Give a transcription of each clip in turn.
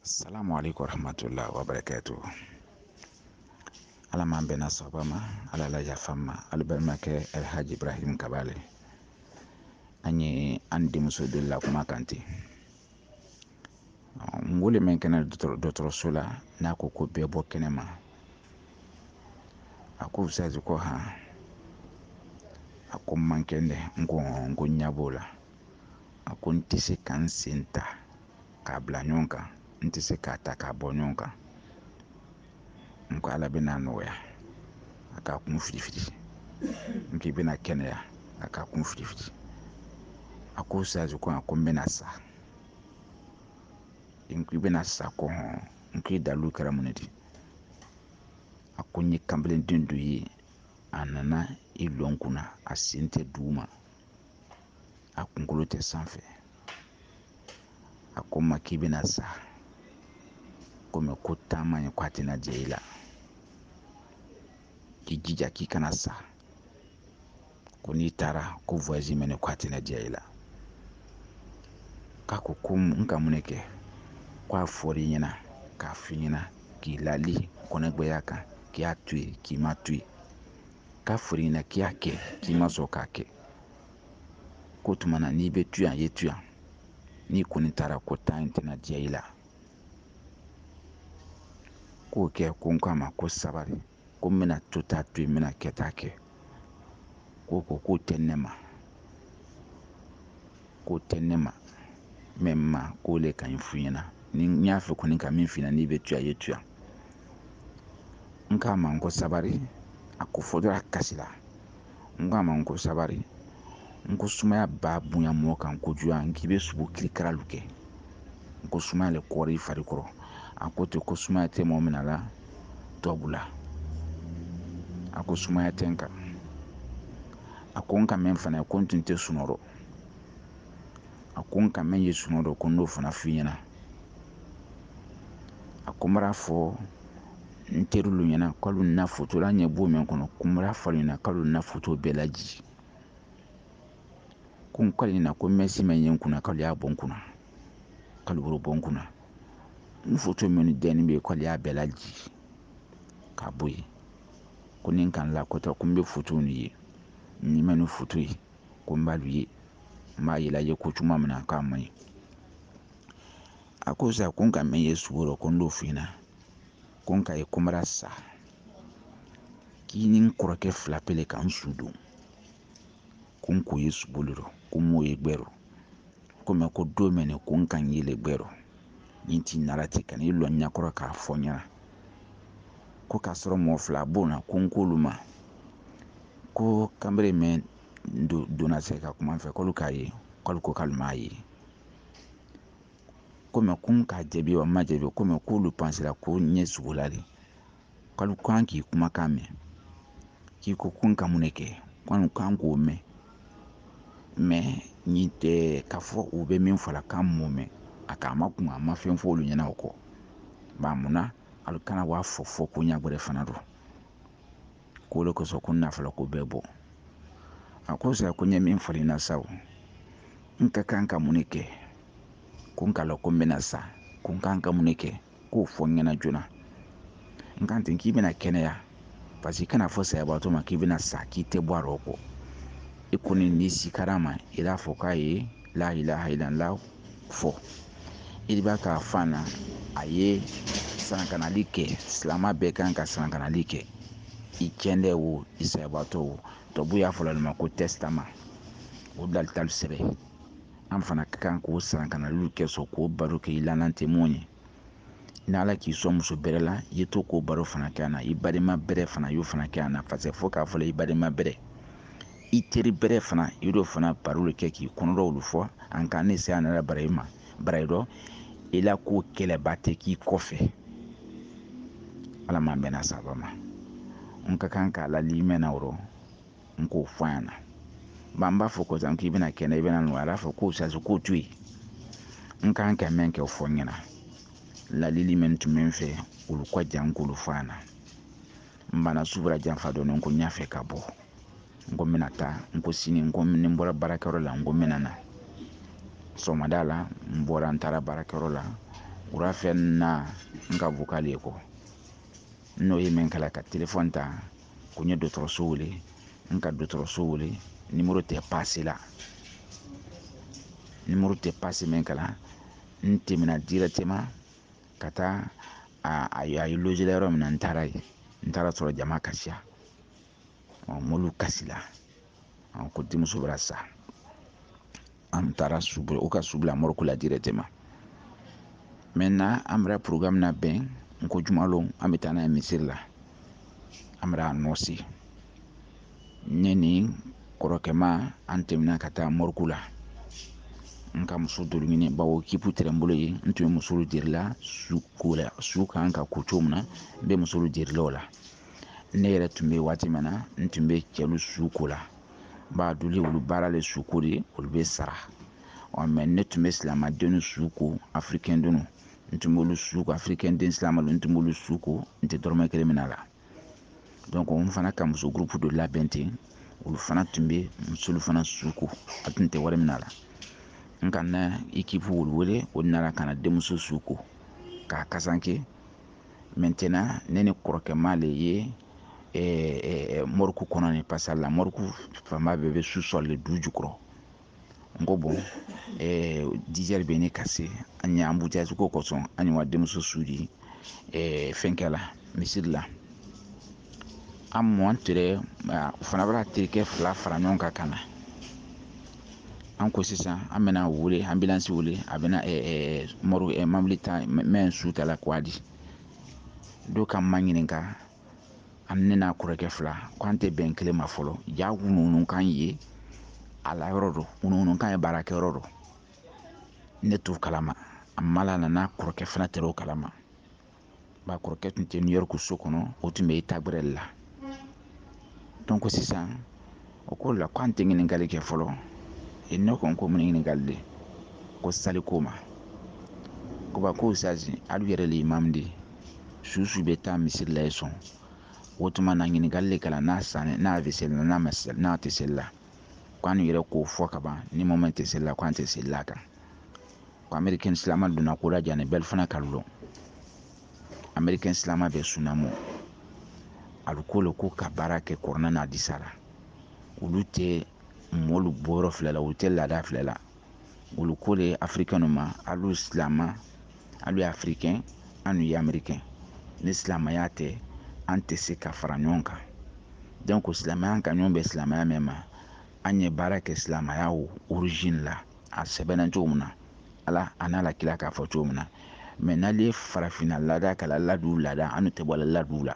salamu aleykum warahmatullahi wabarakatu ala m'an bɛnna sababa ma ala la yafa an ma alu balimakɛ alhaji ibrahim kaba le an ye an denmuso deli la kuma kan ten n wele mɛn kɛni dɔgɔtɔrɔso la n'a ko ko bɛɛ bɔ kɛnɛ ma a ko ustazi ko han a ko n man kɛndɛ n ko n ko ɲɛ b'o la a ko n tɛ se ka n sen ta k'a bila ɲɔgɔn kan n tɛ se k'a ta k'a bɔ ɲɔgɔn kan n ko ala bɛna nɔgɔya a k'a kun firifiri n k'i bɛna kɛnɛya a k'a kun firifiri a ko ustazi ko a ko n bɛna sa n k'i bɛna sa ko hɔn n k'i dalu kɛra mun di a ko n ye kanbelenden dɔ ye a nana i lɔ n kunna a sen tɛ duguma a kunkolo tɛ sanfɛ a ko n ma k'i bɛna sa komi ko taama ye ko a tɛna diya i la k'i jija k'i kana sa ko n'i taara ko voyage mɛnɛ ko a tɛna diya i la k'a ko ko n ka mun ne kɛ ko a fɔr'i ɲɛna k'a f'i ɲɛna k'i lali kɔnɔgbɛya kan k'i y'a to yen k'i ma to yen k'a fɔr'i ɲɛna k'i y'a kɛ k'i ma sɔn k'a kɛ ko tuma na n'i bɛ to yan ye to yan n'i kɔni taara ko taa in tɛna diya i la k'o kɛ ko n k'a ma ko sabari ko n bɛna tota to yen n bɛna kɛta kɛ ko ko k'o tɛ ne ma k'o tɛ ne ma mɛ ma k'o le ka ɲi f'i ɲɛna ni n y'a fɛ kɔni ka min f'i ɲɛna n'i bɛ to yan ye to yan n k'a ma n ko sabari a ko fɔ dɔrɔn a kasi la n k'a ma n ko sabari n ko sumaya ba bonya mɔgɔ kan kojugu n k'i bɛ sugo kirikaralu kɛ n ko sumaya le kɔrɔ i fari kɔrɔ a ko ten ko sumaya tɛ mɔgɔ min na la tubabu la a ko sumaya tɛ n kan a ko n ka mɛn fana ko n tun tɛ sunɔgɔ a ko n ka mɛn ye sunɔgɔ dɔ ko n n'o fana f'i ɲɛna a ko n b'a fɔ n terilu ɲɛna k'olu na foto la n ɲɛ b'o min kɔnɔ ko n b'a fɔ olu ɲɛna k'olu na foto bɛɛ laji ko n k'ale ɲɛna ko mɛsi mɛn ye n kunna k'ale y'a bɔ n kunna k'ale b'o bɔ n kunna n foto min dɛnni bɛ k'ale y'a bɛɛ laji k'a bɔ yen ko ni n kan la ko tɛ ko n bɛ foto nin ye ni ma nin foto ye ko n b'alu ye n b'a yela ye ko cogoya min na k'a man ɲi a ko sa ko n ka mɛn ye subo dɔ ko n d'o f'i ɲɛna ko n k'a ye ko n bara sa k'i ni n kɔrɔkɛ fila pe le ka n su don ko n k'o ye subo le rɔ ko n m'o ye gbɛ rɔ ko mɛ ko dɔɔmɛni ko n kan yele gbɛrɔ ni ti nara ti ka n'i lɔ ɲakɔrɔ k'a fɔ ɲɛna ko k'a sɔrɔ mɔgɔ fila b'o na ko n k'olu ma ko kanbere mɛn donna se ka kuma n fɛ k'olu k'a ye k'olu ko k'olu m'a ye ko mɛ ko n k'a jaabi wa n ma jaabi ko mɛ k'olu pansera ko n ye sugo la de k'olu kan k'i kumakan mɛn k'i ko ko n ka mun de kɛ k'olu kan k'o mɛn mɛ nin tɛ k'a fɔ u bɛ min fɔ la k'an m'o mɛn a k'a ma kuma a ma fɛn fɔ olu ɲɛna o kɔ ba munna alu kana b'a fɔ fɔ ko ɲɛ wɛrɛ fana don k'o de kosɔn ko n na fɔla ko bɛɛ bɔ a ko sa ko n ye min fɔ i ɲɛna sa o n ka kan ka mun de kɛ ko n k'a lɔn ko n bɛna sa ko n kan ka mun de kɛ k'o fɔ n ɲɛna joona n kan ten k'i bɛna kɛnɛya paseke i kana fɔ sayabaatɔ ma k'i bɛna sa k'i tɛ bɔ a rɔ kɔ i kɔni n'i sikara ma i b'a fɔ k'a ye la ilaha ilala fɔ i b'a k'a fan na a ye sarankanali kɛ silamɛ bɛɛ kan ka sarankanali kɛ i kɛndɛ wo i sayabaatɔ wo tubabu y'a fɔl'o le ma ko tɛsitama o dalitali sɛbɛn an fana ka kan k'o sarankanalilu kɛ sɔn k'o baro kɛ i lanan tɛ mun ye ni ala k'i sɔn muso bɛrɛ la i ye to k'o baro fana kɛ a na i balima bɛrɛ fana y'o fana kɛ a na paseke fo k'a fɔ i balima bɛrɛ i teri bɛrɛ fana i y'o fana baro de kɛ k'i kɔnɔdɔw fɔ an kan ne se a nana bara i ma bara i dɔ i la ko kɛlɛba tɛ k'i kɔfɛ ala m'an bɛnna saba ma n ka kan k'a lali mɛn na o rɔ n k'o fɔ yan na ba n b'a fɔ ko sa k'i bɛna kɛnɛ i bɛna nɔgɔya a b'a fɔ k'o sasu k'o to yen n kan ka mɛn kɛ o fɔ n ɲɛna ladili min tun bɛ n fɛ olu ka jan k'olu fɔ yan na n banna su bara janfa dɔɔni n ko n y'a fɛ ka bɔ n ko n bɛna taa n ko sini n ko ni n bɔra baarakɛyɔrɔ la n ko n bɛna na sɔgɔmada la n bɔra n taara baarakɛyɔrɔ la wula fɛ na n ka vokali ye kɔ n'o ye min kɛla ka telefɔni ta ko n ye dɔgɔtɔrɔso wele n ka dɔgɔtɔrɔso wele nimoro tɛ pase la nimoro tɛ pase min kɛla n tɛmɛna dirɛtɛma ka taa a ye lozira yɔrɔ min na n taara yen n taara sɔrɔ jama ka siya mɔlu kasila an ko denmuso bɛra sa an taara su o ka su bila moriku la dirɛtɛma mɛtɛna an bɛra porogaramu labɛn n ko jumalon an bɛ taa n'a ye misiri la an bɛ anɔnsi ne ni kɔrɔkɛma an tɛmɛna ka taa moriku la n ka muso dɔlu ɲini bawo ekipu tɛrɛ n bolo ye n tun bɛ musolu derila su kan ka ko cogo min na n bɛ musolu derila o la ne yɛrɛ tun bɛ waati min na n tun bɛ cɛlu su ko la b'a duli olu baara le su ko de olu bɛ sara ɔ mɛ ne tun bɛ silamɛdenw su ko afirikɛn denw n tun b'olu su ko afirikɛn den silamɛw n tun b'olu su ko n tɛ dɔrɔmɛ kelen mina a la donc n fana ka muso gurupu dɔ labɛn ten olu fana tun bɛ musolu fana su ko a tun tɛ wari mina a la n ka na ikipu olu wele o nana ka na denmuso su ko k'a kasanke maintenant ne ni kɔrɔkɛ ma le ye eh, eh, mɔriku kɔnɔ ni parce que la mɔriku fanba bɛɛ bɛ sous-sol le du jukɔrɔ n ko bɔn eh, dizɛri bɛ ne ka se an ye embouteillage ko kosɔn an ye wa denmuso su di eh, fɛnkɛ la misiri la an mɔn tere o fana bɛna terikɛ fila fara ɲɔgɔn kan ka na an ko sisan an bɛna wele ambulance wele a bɛna mɔri mɔbili ta mɛn su ta la k'a di dɔ k'an maɲininka an ne n'a kɔrɔkɛ fila ko an tɛ bɛn kelen ma fɔlɔ ja wunuwunukan ye a la yɔrɔ dɔ wunuwunukan ye baarakɛyɔrɔ dɔ ne t'o kalama a ma la nana kɔrɔkɛ fana tɛrɛ o kalama ba kɔrɔkɛ tun tɛ New York so kɔnɔ o tun bɛ taabolo la donc sisan o ko la k'an tɛ ɲininkali kɛ fɔlɔ e ne ko n ko mun ɲininkali de ko sali ko ma ko ba ko sazi alu yɛrɛ le imamu de su su bɛ taa misiri la ye sɔn o tuma na ɲininkali le kɛla n'a sanni n'a bɛ seli n'a ma n'a tɛ seli la k'an yɛrɛ k'o fɔ ka ban ni mɔ mɛn tɛ seli la k'an tɛ seli la kan ko amerikɛn silama donna ko la jani bɛɛ fana k'a lɔn amerikɛn silama bɛ sunamu a bɛ ko le ko ka baara kɛ kurana n'adisa la olu tɛ mɔlu bɔyɔrɔ filɛ la olu tɛ laada filɛ la olu ko le afirikɛnw ma alu silama alu ye afirikɛn an ye amerikɛn ni silamɛya tɛ an tɛ se ka fara ɲɔgɔn kan donc silamɛya k'an ɲɔgɔn bɛn silamɛya mɛn ma an ye baara kɛ silamɛya origine la a sɛbɛnna cogo min na ala a n'a la kira k'a fɔ cogo min na mɛ n'alu ye farafinna laada kɛ la ladu laada an tɛ bɔ ladu la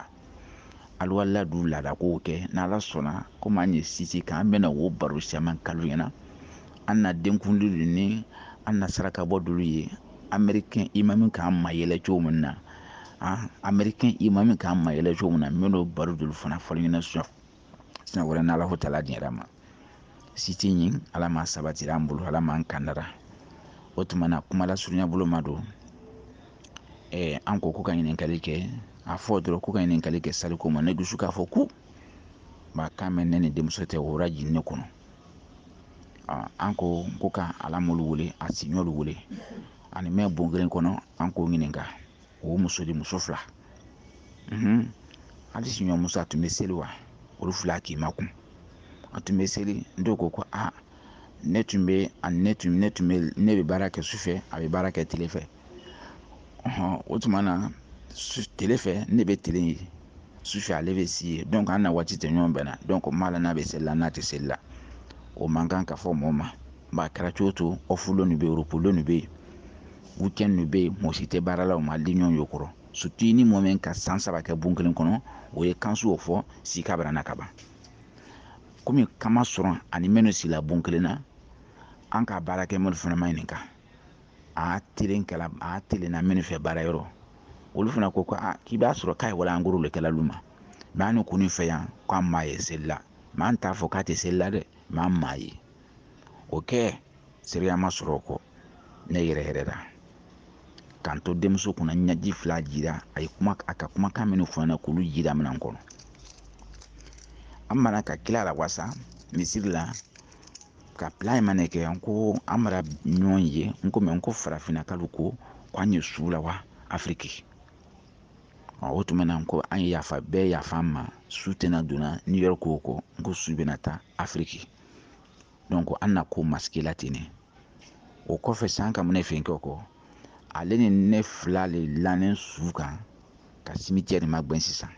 alu wa ladu laada kow kɛ n'ala sɔnna komi an ye siti kan an bɛna wo baro caman k'alu ɲɛna an na denkundi ni an na saraka bɔ dolu ye amerikɛn imami k'an mayɛlɛ cogo min na amerikɛn imami k'an mayɛlɛ cogo min na n bɛn'o baro dolu fana fɔ alu ɲɛna siɲɛ wɛrɛ n'ala ko tala diyara ma siti ɲin ala ma sabatira an bolo ala m'an kandara o tuma na kuma lasurunya bolo ma don ɛɛ an ko ko ka ɲininkali kɛ a fɔ dɔrɔn ko ka ɲininkali kɛ saliko ma ne dusu k'a fɔ ko ba kan mɛ ne ni denmuso tɛ wora jigin ne kɔnɔ an ko ko ka a la mɔlu wele a siɲɔlu wele a ni mɛn bon kelen kɔnɔ an k'o ɲininka o muso de muso fila hali siɲɔ muso a tun bɛ seli wa olu fila k'i makun a tun bɛ seli dɔw ko ko aa ne tun bɛ ani ne tun ne tun bɛ ne bɛ baara kɛ sufɛ a bɛ baara kɛ tile fɛ o tuma na tile fɛ ne bɛ tile yen sufɛ ale bɛ si yen donc an na waati tɛ ɲɔgɔn bɛn na donc n m'a lɔn n'a bɛ seli la n'a tɛ seli la o man kan ka fɔ mɔɔ ma Ba kɛra cogo to off lon nu bɛ repos lon nu bɛ weekend nu bɛ mɔgɔ si tɛ baara la maa di ɲɔgɔn ye o kɔrɔ surtout ni mɔgɔ min ka san saba kɛ bon kelen kɔnɔ o ye kan su o fɔ sika bara na ka ban komi kama sɔrɔ a ni minnu sila bon kelen na an ka baarakɛ maa lu fana maɲininka kan a telen kɛla a telenna minnu fɛ baara yɔrɔ olu fana ko ko aa k'i b'a sɔrɔ k'a ye wala angoro le kɛla lu ma mɛ an kɔni fɛ yan k'an m'a ye seli la mɛ an t'a fɔ k'a tɛ seli la dɛ mɛ an m'a ye o kɛ seereya ma sɔrɔ o kɔ ne yɛrɛ yɛrɛ la k'an to denmuso kunna ɲɛji fila jira a ye kuma a ka kumakan minnu fɔ na k'olu jira minɛn kɔnɔ an mana ka kila lawasa misiri la ka pila in mana kɛ n ko an bara ɲɔgɔn ye n ko mɛ n ko farafinnakalu ko ko an ye su lawa afiriki o tuma na ko an ye yafa bɛɛ yafa ma su tɛna donna New York ko n ko su bɛna taa afiriki donc an na ko masigi la ten ne o kɔfɛ sa an ka mun ne fɛnkɛ kɔ ale ni ne fila le lannen su kan ka cimetière magbɛn sisan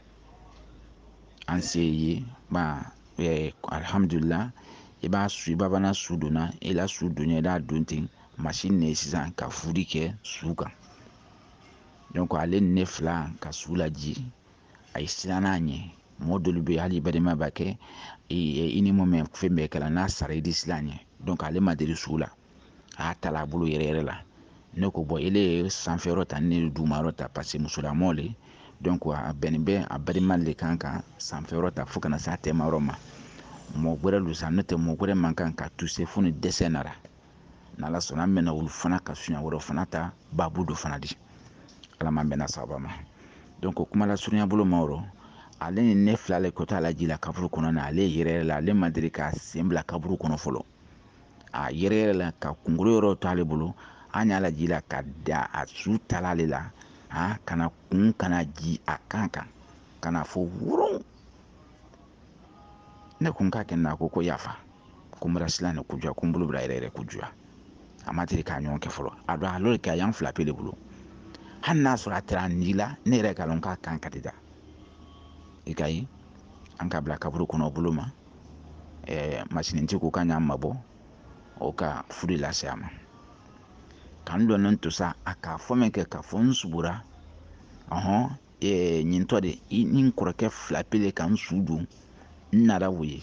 an se yen ba eh, alihamudulila i b'a su i bɛna su donna i la su don ɲa i d'a don ten masini ne sisan ka furi kɛ su kan donc ale ni ne fila ka su laji a ye siran na a ɲɛ mɔgɔ dɔlu bɛ hali balima b'a kɛ i ni mɔɔ mɛn fɛn bɛɛ kɛla n'a sara i di siran a ɲɛ ale ma deli su la a y'a ta a bolo yɛrɛ yɛrɛ la ne ko bon ile ye sanfɛ yɔrɔ ta ne ye duguma yɔrɔ ta paseke musolamɔgɔ le a bɛnnen bɛ a balima de kan ka sanfɛ yɔrɔ ta fo ka na se a tɛma yɔrɔ ma mɔgɔ wɛrɛ don sa n'o tɛ mɔgɔ wɛrɛ man kan ka toucher fo ni dɛsɛ nara n'ala sɔnna an bɛna olu fana ka sujet wɛrɛ fana ta baabu dɔ fana di ala m'an bɛnna sababu ma donc kuma lasurunya bolo ma yɔrɔ ale ni ne fila le ko t'a lajila kaburu kɔnɔ na ale yɛrɛ yɛrɛ la ale ma deli ka sen bila kaburu kɔnɔ fɔlɔ a yɛrɛ yɛrɛ la ka kunkolo yɔrɔ to ale bolo an y'a lajila ka da a sutara ale la a kana kun kana ji a kan kan kana fɔ wurun ne kun ka kɛ na ko ko yafa ko n bɛra silan ne kojuguya ko n bolo bɛra yɛrɛ yɛrɛ kojuguya a ma deli k'a ɲɔgɔn kɛ fɔlɔ a don a lori kɛ a y'an fila pe de bolo hali n'a sɔrɔ a taara an ni la ne yɛrɛ k'a dɔn k'a kan ka di da i ka ye an ka bila kaburu kɔnɔ bolo ma ɛɛ masinintigi ko k'an y'an mabɔ o ka furu lase a ma k'an dɔnnen to sa a k'a fɔ min kɛ k'a fɔ n subura ɔhɔn ɲintɔ de i ni n kɔrɔkɛ fila pe le ka n su don n nana o ye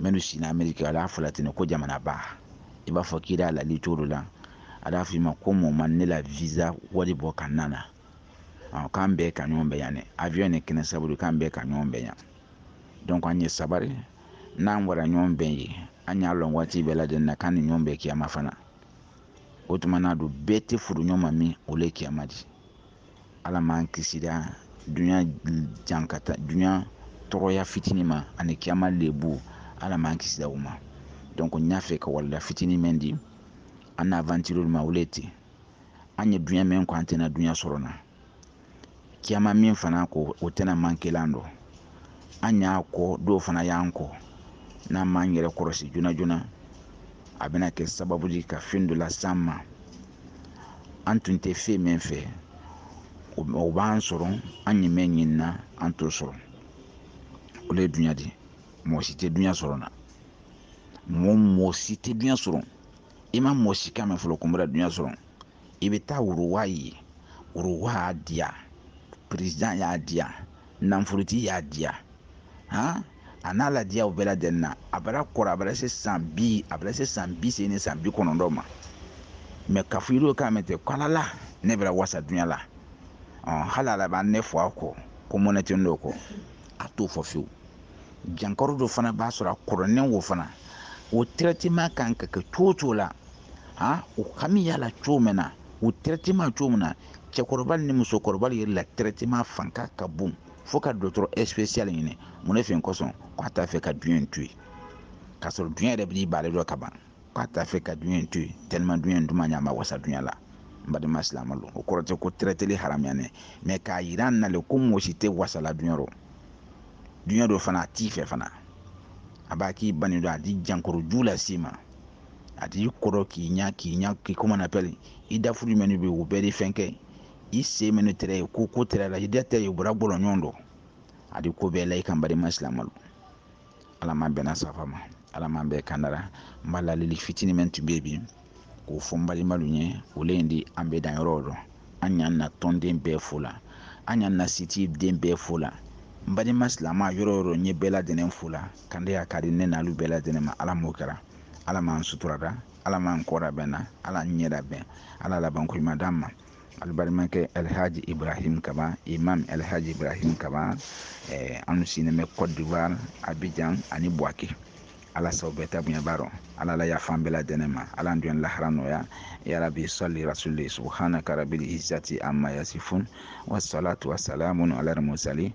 minnu si na ameriki ala y'a fɔla ten ko jamanaba i b'a fɔ k'i da lali cogo la a y'a f'i ma ko mɔ man ne la visa wari bɔ ka na na k'an bɛɛ ka ɲɔgɔn bɛn yan dɛ avion ne kɛnɛn sababu k'an bɛɛ ka ɲɔgɔn bɛn yan donc an ye sabari n'an bɛra ɲɔgɔn bɛn ye an y'a lɔn waati bɛɛ lajɛlen na k'an ni ɲɔgɔn bɛn kiyama fana o tuma na don bɛɛ tɛ furu ɲɔgɔn ma min o le kiyama di ala m'an kisira dunya jankata dunya dɔgɔya fitinin ma ani kiyama lebu ala m'an kisira o ma donc n y'a fɛ ka walanda fitinin mɛn di an na aventure ma o le ten an ye dunya mɛn kɔ an tɛna dunya sɔrɔ na kiyama min fana ko o tɛna manquer la dɔ an y'a kɔ dɔw fana y'an kɔ n'an m'an yɛrɛ kɔlɔsi joona joona a bɛna kɛ sababu di ka fɛn dɔ las'an ma an tun tɛ fɛn min fɛ o b'an sɔrɔ an ye mɛn ɲinin na an t'o sɔrɔ o le ye dunya di mɔgɔ si tɛ dunya sɔrɔ na mɔgɔ si tɛ dunya sɔrɔ i ma mɔgɔ si kan mɛn fɔlɔ ko n bɛra dunya sɔrɔ i bɛ taa roi ye roi y'a diya président y'a diya nanfolotigi y'a diya han a n'a ladiyaw bɛɛ lajɛlen na a bara kɔrɔ a bara se san bi a bara se san bi seegin ni san bi kɔnɔntɔn ma mais k'a fɔ i y'o kan mɛn ten ko ala la ne bɛra wasa dunya la hali ala b'a ne fɔ a kɔ ko mɔnɛ tɛ n'o kɔ a t'o fɔ fiyewu jankaro dɔ fana b'a sɔrɔ a kɔrɔlen o fana o traitement kan ka kɛ cogo cogo la han o hami y'a la cogo min na o traitement cogo min na cɛkɔrɔba ni musokɔrɔba yɛrɛ la traitement fanga ka bon fo ka dɔgɔtɔrɔ spécial ɲini mun ne fɛn kosɔn ko a t'a fɛ ka duɲɛ in to yen k'a sɔrɔ duɲɛ yɛrɛ b'i ban ale dɔ ka ban k'a t'a fɛ ka duɲɛ in to yen tellement duɲɛ in duman a ɲɛ a ma wasa duɲɛ la n balima silamalu o kɔrɔ tɛ ko traitéli haramuyani mais k'a yira an na le ko mɔgɔ si tɛ wasala duɲɛ rɔ duɲɛ dɔ fana a t'i fɛ fana a b'a k'i ban i dɔ a di jankaro ju las'i ma a d'i kɔrɔ k'i ɲa k'i ɲa k'i comment on appelle i dafuru jumɛn de bɛ o bɛɛ de fɛn kɛ i se mɛ ne tɛrɛ ye ko ko tɛrɛ la i da tɛ ye bɔra bɔlɔ ɲɔgɔn dɔ a di ko bɛɛ la i kan balima silamalu ala m'an bɛnna safa ma ala m'an bɛɛ kandara n b'a lalili fitinin min tun bɛ bi k'o fɔ n balimalu ye o le in di an bɛ dan yɔrɔ dɔn an y'an na tɔnden bɛɛ fo la an y'an na siti den bɛɛ fo la n balima silama yɔrɔ o yɔrɔ n ye bɛɛ ladɛnɛn fo la kɛndɛya ka di ne n'alu bɛɛ ladɛnɛn ma ala m'o kɛra ala m'an suturada ala m'an kɔda bɛnna ala an ɲɛda bɛn ala laban ko ɲuman d'an ma alu balimakɛ alhaji ibrahim kaba imam alhaji ibrahim kaba eh, an sinnen bɛ cote d'ivoire abidjan ani buwake ala saw bɛɛ ta bonya b'a dɔ ala la yaf'an bɛɛ lajɛlen ma ala an dun lahara nɔgɔya ya rabi sali rasuli subhanaka rabil izzati amma yasifun wasalatu wasalamun ala mursali